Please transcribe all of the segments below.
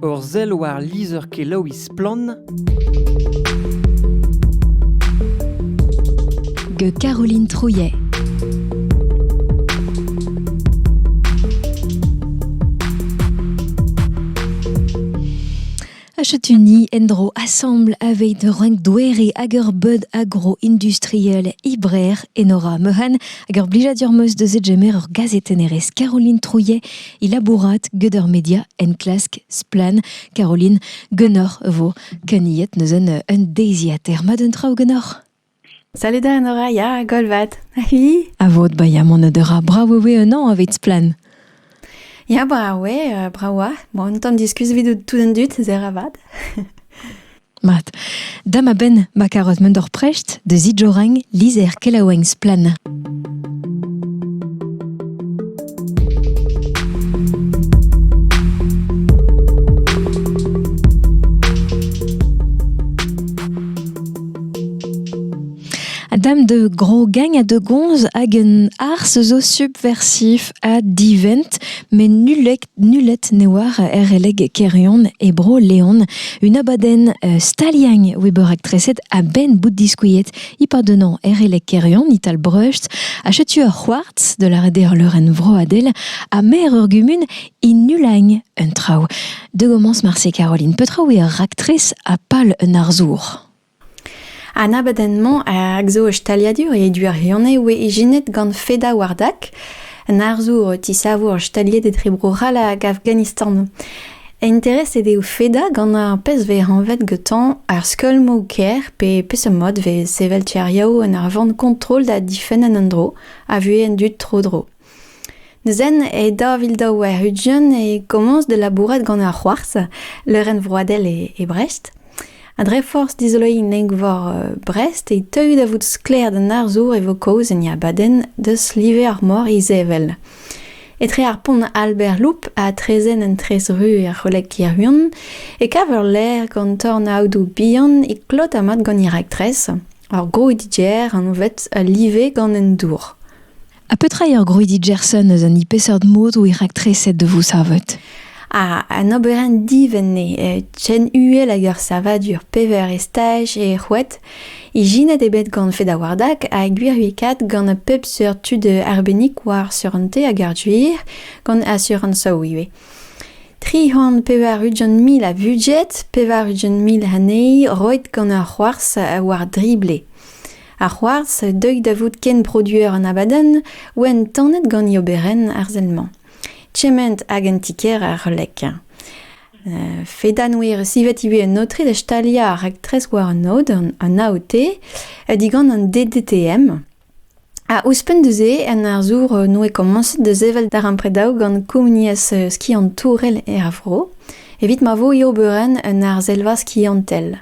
Ur sell war lizher-kelaouiñ Splann! gant Caroline Trouillet. Achutuni endro assemble avec renk douere ager bud agro-industriel Ibrer Enora Mehan ager blijadur meus deus etjemer ur gazet enerez Caroline Trouillet Il labourat gant ur media enklask Splann Caroline Gunnor vo keniet neuzen euh, un deiziater. Ma d'un traoù Gunnor Salut da en ora, ya, golvat. Ahi. A vod ba ya mon dera bravo ve un an aveit Splann. Ya, bravo, euh, bravo. Bon, on t'en discus vidout tout un dut, zer avad. Mat. Dam a-benn ma karoz mont d'ur prest de zidjorang lizher kelaouenn Splann. dame de grogagne à de gonz hagen ars zo subversif a divent, mais nullec Nullet ne oar er releg Kerion e Bro-Leon un abadenn staliañ oa bet raktreset a-benn bout diskuilhet e-pad un an er releg Kerion ital Breust ha setu ur c'hoartz de la rederleurenn vroadel ha maer ur gumun e Nulagn un traoù. De gommence marse Caroline Petraoui ur raktres ha pal un arzour. An abadenn-mañ a zo ur staliadur e Duarione oa ijinet gant Feda Wardak, an arzour o tisavour staliet etre Bro-C'hall hag Afghanistan. Intereset eo Feda gant ar pezh vez anvet gantañ ar skeulmoù-kaer pe peseurt mod vez sevel tiriadoù en ur vont kontrol da difenn an endro a vuhez an dud tro-dro. Neuze e daou vil daou warn-ugent e komañs da labourat gant ar c'hoarzh, leurenn vroadel e Brest. Ha dre forzh dizoloiñ neñvor Brest e teuy da vout sklaer d'an arzour e vo kaoz en e abadenn deus live ar mor izevel. Etre ar pont Albert Loup ha traezhenn an Trezru er C'holeg Hirwon e kav ur lêr gant tornaodoù bihan e klot ha mat gant he raktres, ur gro-DJ anvet Live gant an dour. Ha petra eo ur grouidi Gerson eus an hini peseurt mod eo raktreset da vo savet An oberenn divent eo eh, chen uhel hag ur savadur pevar estaj eo c'hwet. Ijinet eo bet gant Fedawardak ha gwiriekaet gant pep seurt tud arbennik war surante hag ar duir, gant asurañsoù ivez. Tri c'hant pevar ugent mil a budget, pevar ugent mil anezhi roet gant ur c'hoarzh war drible. Ar c'hoarzh, deuit da vout kenproduer an abadenn, oant tanet gant e oberenn arzel-mañ. Kement hag en ti-kêr er C'hlek. Euh, Fedanwir sivet ivez un aotre da staliañ ar raktres war an aod, an AOT, digant an DDTM. Ha ouzhpenn da-se, un arzour euh, noe komañset da sevel darempredaoù gant komuniezh euh, skiantourel er vro, evit ma vo e oberenn un arzelva skiantel.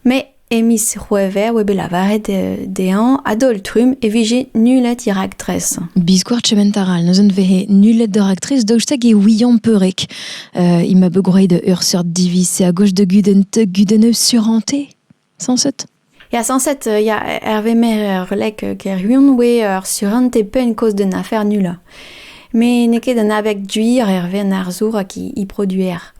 Mais E miz C'hwevrer oa bet lavaret dezhañ a-daol-trumm e vije nullet he raktres. Biskoazh kement a ra neuzen vehe nullet da raktres daoust hag e ouiañ peurrek. Uh, il m'a bet groeit ur seurt diviz a gozh da gudenn te gudenn suranté, sañset Ya, sañset, euh, ya, Hervé Mérer, Lek Kerhuon, oe ur surante penn kozh d'un afer nullañ. Me n'eo ket un abeg duir Hervé an arzour hag he produer.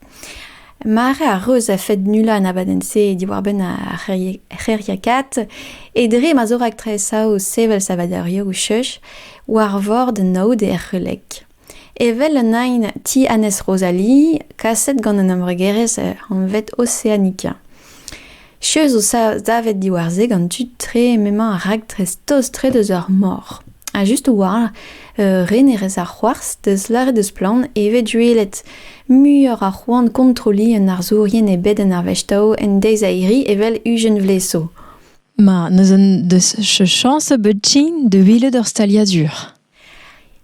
Mare a reus a-fed nullañ an abadenn-se diwar-benn ar c'hêriakaat e dre ma zo raktresaoù sevel savadurioù cheuz war vord naoud e Erc'hulek. Evel an aen Ti Annez Rosalie, kaset gant an embregerezh anvet Oceanica. Cheuz zo savet diwar-se gant tud-tre m'emañ ar raktres-tost-tre deus ar mor. Ha just a-walc'h, re ne rez ar c'hoarzh, deus lâret deus splann e vez duellet muioc'h a c'hoant kontrolliñ un arzourien ebet en ar vestao en deiz a-hiri evel ugent vlez zo. Ma, neuze deus chañs a bep ti da welet ur staliadur.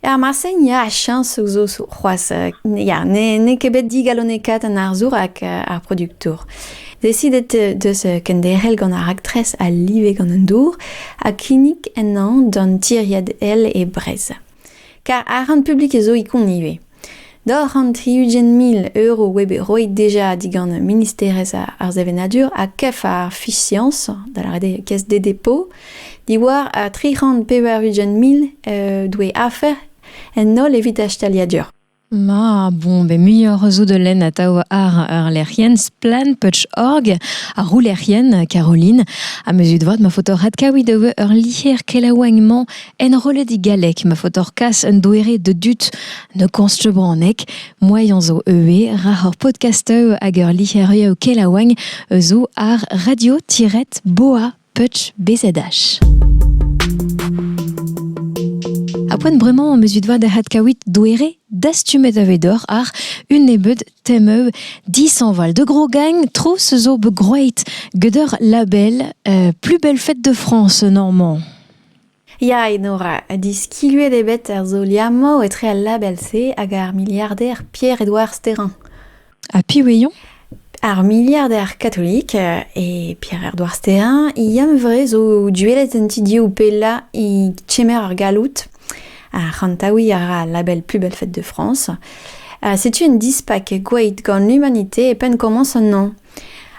Er marse, ya, chañsoù zo c'hoazh. Ya, n'eo ket bet digalonekaet an arzour hag ar produktour. Desidet deus kenderc'hel gant ar raktres a live gant an dour ha kinnig ennañ d'an tiriad Ail e Brezh. Kar arc'hant publik zo ikon ivez. Doc'h an tri-ugent mil euro oa bet roet deja digant Ministerezh ar Sevenadur ha kef ar Fisiañs, da lâret eo Caisse des dépôts, diwar ar tri c'hant pevar-ugent mil doe afer en holl evit ar staliadur. Ma, bon, be muioc'h zo de len atav ar ar lec'hienn splan.org, ar roulec'hienn, Caroline, ha me zud vat ma foto rat kaout eo ur lier kelaouagn-mañ Enrollet e galleg ma faotoc'h kas un doere de dud ne konstr bronneg. Moaien zo eu ra hor podcastoù hag ur lic'herioù kelaouagn zo ar radio-boa.bzh. A poent bremañ mezuit vat da hat kawit doere dastumet avedor ar un nebeud temeu disanval de gros gagne tro se zo be groeit geder label euh, plus belle fête de France normand. Ya, Enora, diskiluet eo bet ar solier-mañ etre al label-se hag ar miliarder Pierre-Edouard Sterrin. Ha piv eo eo? Ar miliarder katolik e Pierre-Edouard Sterrin, yann-vre zo duellet en ti div pellañ e kemer ar galloud. Ha c'hantaouiñ a ra al label Plus belle fête de France. Setu un dispak gwaet gant l'humanité e penn komañs an hañv.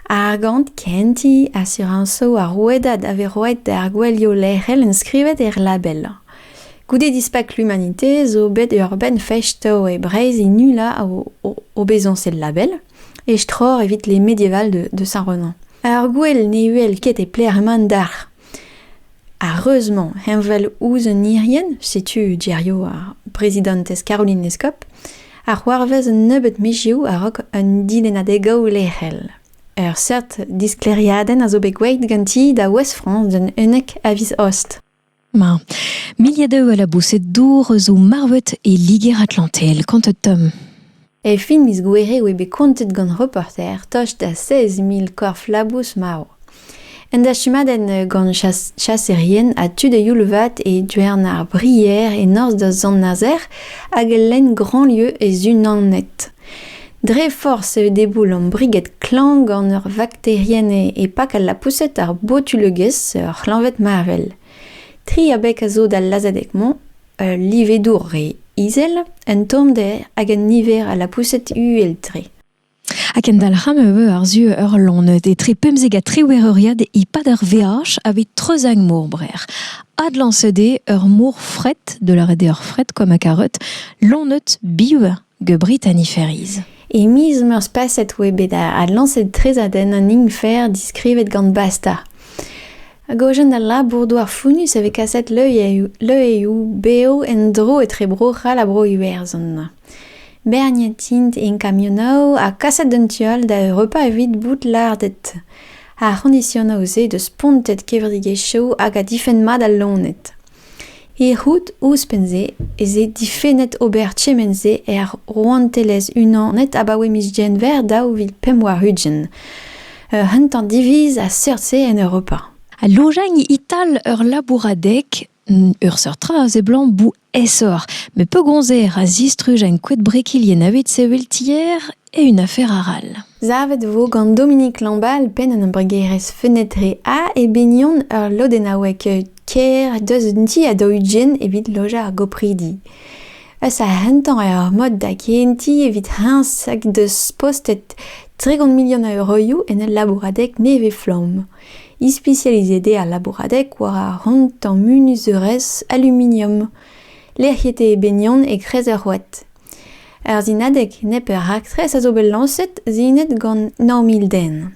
Ar gant kentiñ asurañsoù ar rouedad a vez roet d'ar gouelioù lec'hel enskrivet er label. Goude dispak l'Humanité zo bet ur benn festo e Breizh e nullañ o bezañsed label, e-stror evit les médiévals de Saint-Renan. Ar gouel ne uhel ket e pler mand dalc'h. Ar reuz-mañ heñvel ouzh un irienn, setu geriaou ar brezidantez Caroline Lescop, a c'hoarvez un nebeud mizioù a-raok un dilennadeg-gaou lec'hel. Ur seurt disklêriadenn a zo bet gwelet ganti da Ouest-France d'un unnek a viz Aost. Ma. Milliers d'eux à la boussée d'ours ou marvettes et liguer atlantel. Quant à Tom E fin miz Gouere e oe bet kontet gant reporter tost da seiz mil korf-labous marv. Un dastumadenn gant chas- chaserien ha tud a-youl-vat e Diouern ar Brier e norzh da Sant-Nazer hag lenn Grandlieu e Zunanet. Dre forzh eo deboulom briged klañv gant ur vakterienn e pak al lapoused ar botulegezh ur c'hleñved marvel. Tri abeg a zo d'al lazhadeg-mañ. Ul livedour re izel, un tommder hag un niver a lapoused uhel-tre. Ha kendalc'hañ e vo àr-zu ur loened etre pemzek ha triwec'h euriad e-pad ur veaj aveit Treuzagn-Maurbrer. Adlañset eo ur mor fret, da lâret eo ur fret, comme à carotte, loened biv. The Britanniferes. E miz Meurzh paset oa bet adlañset trezadenn an Ingfer diskrivet gant Basta. Hag ojen al labour-douar founnus e vez kaset leueioù bev en-dro etre Bro-C'hall ha Bro-Iwerzhon. Berniet int en kamionoù ha kaset d'un tu all da Europa evit bout lardet. Ar c'hondisionoù-se deus spontet kevredigezhioù hag a difenn mat al loened. Erruet ouzhpenn-se ez eo difennet ober kement-se er Rouantelezh-Unanet abaoe miz Genver daou vil pemp warn-ugent. Ur c'hentañ diviz a seurt-se en Europa. Al lojañ ital ur labouradeg, ur seurt tra a seblant bout aesoc'h, met pegoulz eo ra zistruj enkoed brekilien evit sevel tier Eun afer arall. Savet e vo gant Dominique Lambal, penn an embregerezh Fenêtré A, e binion ur lodennaoueg kêr deus un ti a daou-ugent evit lojañ ar gopridi. Eus ar rentañ eo ar mod da gehentiñ evit heñs hag deus postet tregont milion a euroioù en ul labouradeg nevez-flamm. Ispisializet eo al labouradeg war ar rentañ munuzeurezh aluminium. Lec'hiet eo e binion e-kreiz ur c'hoad. Ur sinadeg nepeur raktres a zo bet lañset sinet gant nav mil den.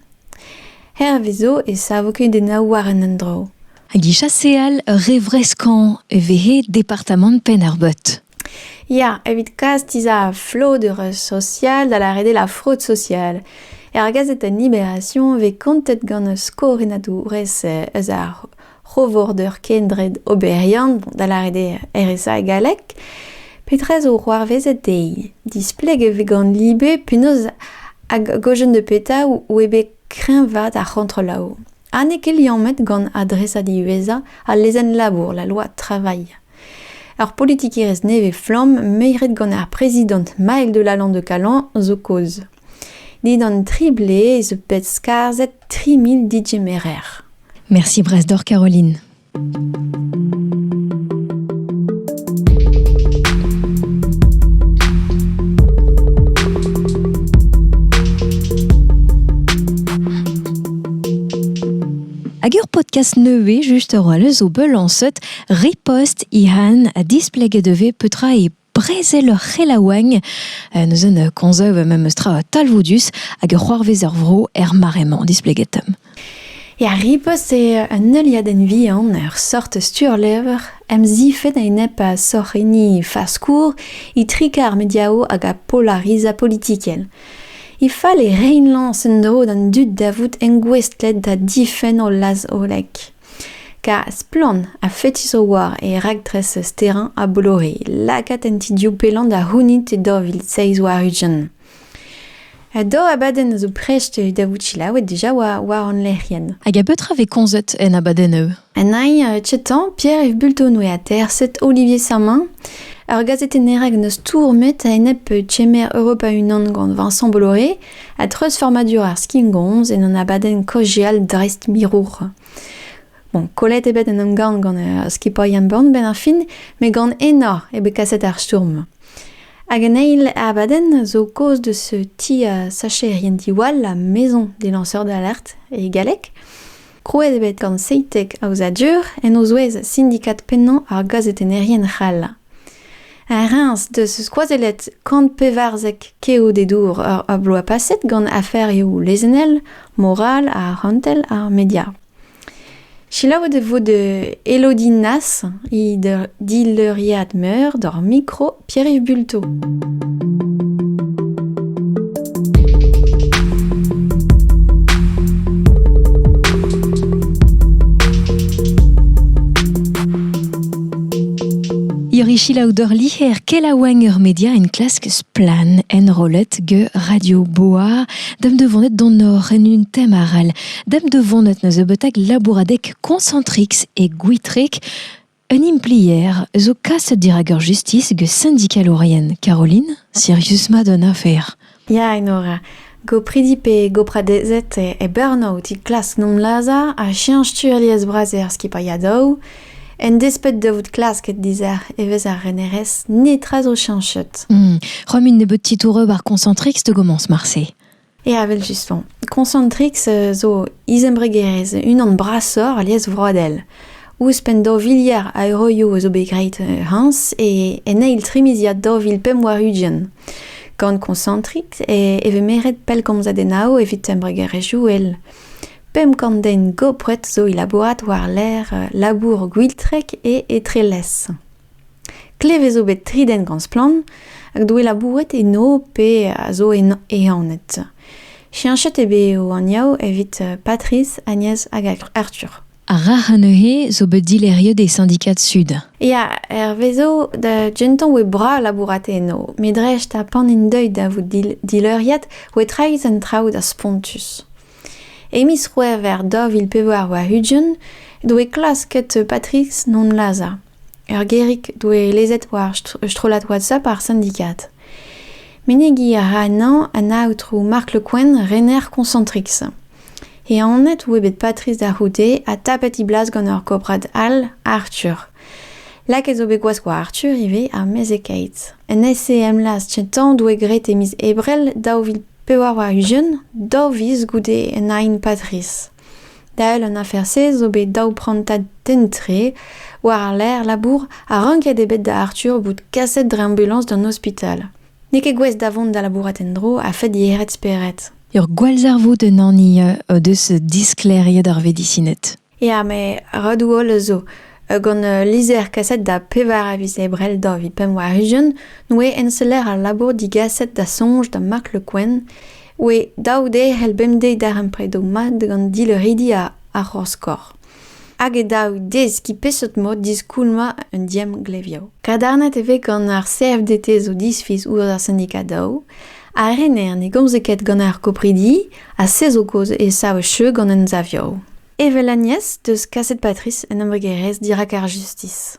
Hervez zo e savo kudennoù war an endro. Hag e chaseal re vreskañ e vehe departamant Penn-ar-Beut. Ya, evit kas tizha flodeur sosial da lâret eo la fraude sociale. Er gazetañ Libération vez kontet gant skoriadourez eus ar c'hovorder kendred oberiant, da lâret eo RSA e galleg, petra zo c'hoarvezet dezhi? Displeg e vez gant libe penaos hag gojenn de petra oe bet kreñvaat ar c'hontrolaoù. Ha n'eo ket liammet gant adresad diwezhañ al lezenn-labour, la loi travail. Ur politikerezh nevez-flamm meiret gant ar prezidant Maël de Lalande de Calan zo kaoz. Dindan tri blez zo bet skarzhet tri mil digemerer. Merci Brasdor Caroline. Hag ur podcast nevez juste roalleus o beul an seut repost i han a displeget devez petra e brezel ur c'helaouenn, neuze ne konzeuv memes tra talvoudus hag ur c'hoarvez er vro er mare-mañ displeget. Ya, ripost eo un heuliadenn vihan, ur sort sturlevr, emzifet a-enep a sorc'henni faskour, itrik ar mediao hag a polariza politikel. E fall e rein lañs en-dro d'an dud da vout engouestlet da difenn o laz-hollek. Kar splann ha fetis o oa e raktres sterañ a Bolori lakaat an ti div pellant da c'hounit e daou vil seizh warn-ugent. Un daou abadenn a zo prest da vout selaouet deja war, war hon lec'hienn. Hag a betra vez komzet en abadennoù? En ai uh, Chetan, Pierre Yves Bultonoe ha terset Olivier Sermin. Ur gazetenner hag n'eus stourmet a-enep chemer Europa Unan gant Vincent Bolloré, A-dreuzfurmadur ar skingomz en un abadenn kaozeal dreist-mirour. Bon, kollet eo bet en emgann gant uh, skipailh Burn benn ar fin, met gant enor eo bet kaset ar stourm. Hag an eil abadenn zo kaoz de ce ti a sacherien diwall la maison des lanceurs d'alerte e galleg. Krouet eo bet gant Seitek Aozadur en o zouez sindikad pennañ ar gazetennerien c'hall. Reims deus skoazellet kant pevarzek keodedour ar bloaz paset gant aferioù lezennel, moral, arc'hantel ha media. Selaouet e vo de Elodie Nas, he dileuriad meur d'ar mikro Pierre-Yves Bulto. Irichila odeur liher kelaouenn ur media en klask splan enrollet ge Radio Boa dem devonet don or en un tem aral dem devonet neus ebeutak labouradek Concentrix et Gwitrek Un implier zo kaset dirak ur justis gant sindikalourien, Caroline, Sirius Madonnafer. Ya, Enora. Gopridi pe gopradezed e Burnout e klask nomlazhañ ha cheñch tu alies-bras er skipailhadoù. En desped da vout klasket dizec'h evezh ar renerezh, netra zo cheñchet. Hmm. Romm int nebeut titouroù ar Concentrix da gomañs marse. Ya, evel-just 'faoñ. Concentrix zo izembregerezh unan brasoc'h alies vroadel. Ouzhpenn daou viliard a euroioù a zo bet graet hañs e en eil trimiziad daou vil pemp warn-ugent. Gant Concentrix e vez meret pellgomzadennoù evit embregerezhioù all. Pemp kant den gopret zo e labourat war-lerc'h labour Gwiltrek e Etrelez. Klevet zo bet tri den gant splann hag doe labouret eno pe a zo ehanet. Cheñchet eo bet o anvioù evit Patrice, Agnès hag Arthur. Ar rac'h neuze zo bet dileriet e Syndicats Sud. Ya, hervezo da gentañ oe bras labourat eno, me dreist ha pan int deuet da vout dileuriad oe traezh an traoù da spontus. E miz C'hwevrer daou vil pevar warn-ugent doe klasket Patrice non lazhañ. Ur gêrig doe lezet war ur strollad WhatsApp ar sindikad. Menegiñ a ra anezhañ an aotrou Marc Le Quen, rener Concentrix. E anat eo bet Patrice da c'houde ha tapet he blas gant ur gobrad all, Arthur. Lakaet zo bet gwazh war Arthur ivez, ar mezhekaet. En SEM Laz Tintan doe graet e miz Ebrel daou vil pevar warn-ugent, daou viz goude un aen Patrice. Dael an afer-se zo bet daou prantad den-tre war-lerc'h labour ha ranket eo bet da Arthur bout kaset dre ambulañs d'an ospital. N'eo ket gouest da vont da labourat en-dro a-fed yec'hed spered. Ur gwallzarvoud un hani o deus disklêriet ar vedisined. Ya, met redoù holl zo. Gant ul lizher kaset da pevar a viz Ebrel daou vil pemp warn-ugent, n'oe enseller al labour digaset da soñj da Mark Le Quen Oe daou de c'hell bemdez darempredoù mat gant dileuridi ar c'horskor. Hag e daou deskiñ peseurt mod diskoulmañ un diemglevioù. Kadarnet e vez gant ar CFDT zo disfiz ouzh ar sindikad daou, ha rener ne gomze ket gant ar gopridi, ha se zo kaoz e sav cheu gant emsavioù. Evel Agnès 'deus kaset Patrice un embregerezh dirak ar justis.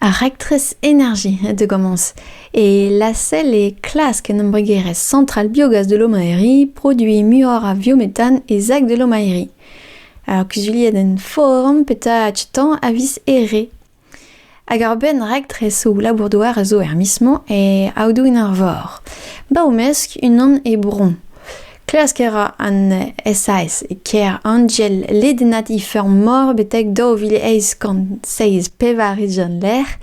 Ar raktres Energie de Gomans et lacelle est klask en embregerezh Centrale Biogaz de Lomaérie produiñ muioc'h a viométhane e sac de Lomaérie. Ar kuzuliadenn forum petra achetañ a vis ere. Hag ar benn raktresoù labour-douar a zo er mis-mañ e Aodoù-an-Arvor. Ba o mesk unan e Bouron. Klask a ra an SAS e kêr Angel ledennat he feur-mor betek daou vil eizh kant seizh pevar-ugent lec'h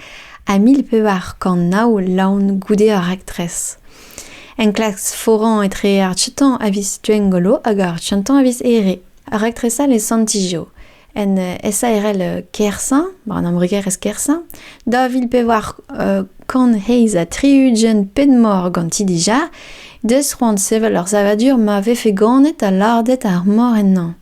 ha mil pevar kant nav laon goude ar raktres. Enklask foran etre ar tutañ a vis Gwengolo hag ar tutañ a vis Here. Raktres all e Sant-Ijo. en SARL Kersaint, war an embregerezh Kersaint, da vil pevar kant heizh ha tri-ugent ped-mor ganti dija, deus c'hoant sevel ur savadur ma vefe ganet ha lardet ar mor ennañ.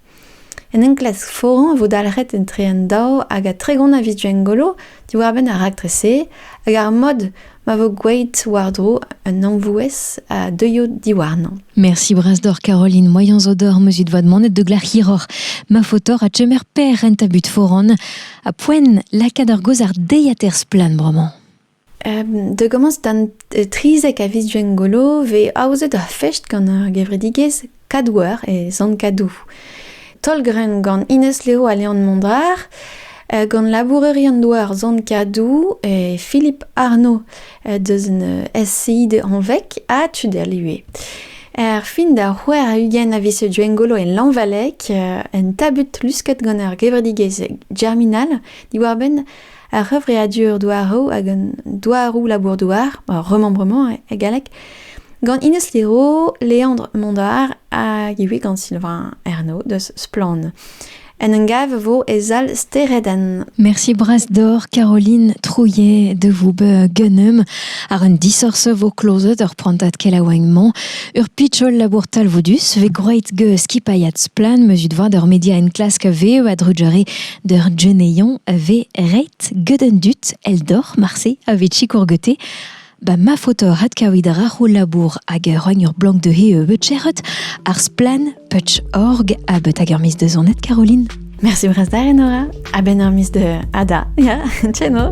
En enklask foran e vo dalc'het etre an daou hag a tregont a viz Gwengolo diwar-benn ar raktres-se hag ar mod ma vo gwelet war-dro un amvouez a deuio diwarnañ. Merci Brasdor Caroline, moyens odor meuzit vad manet de glar hiror. Ma fotor a tchemer per renta but foran a poen lakad ar goz ar deiater splan bremañ. Um, da gomañs d'an trizek a viz Gwengolo, vez aozet ur fest gant ar gevredigezh Kadouer e Sant-Kadou. Taol-grenn gant Ines Leo ha Leon Mondar, euh, gant labourerion-doa ar Sant-Kadou et Philippe Arnaud euh, deus un euh, SCI de Anvec ha Tuderlue. Er fin da c'hwer a ugent a vise Duengolo en Lanvalec, un tabut lusket gant ar gevredigezh germinal, diwar-benn ar c'hevreadur douaroù hag an douaroù labour-douar, remembrement e galleg, gant Ines Liro, Leandre Mondard hag ivez gant Sylvain Ernaud deus Splann. En un gav vo e sal Steredenn. Merci bras d'or Caroline Trouillet de vous gunnum ar un disorse vo klozet ur prantat kelaouagnement ur pitchol labour talvoudus ve groeit ge skipaiat splan meus ut voir d'ur media en klask veo a drujere D'ur geneion a vez ret get an dud eldoc'h marse a vez sikour gete. Ba ma faotoc'h adkavit a ra ho labour hag a roagn ur blank dezhe euh, bet cheret ar splann putch.org ha bet hag ur miz deus zonet Caroline. Merci brastar Enora. A ben ur miz de Ada. Ya, tcheno.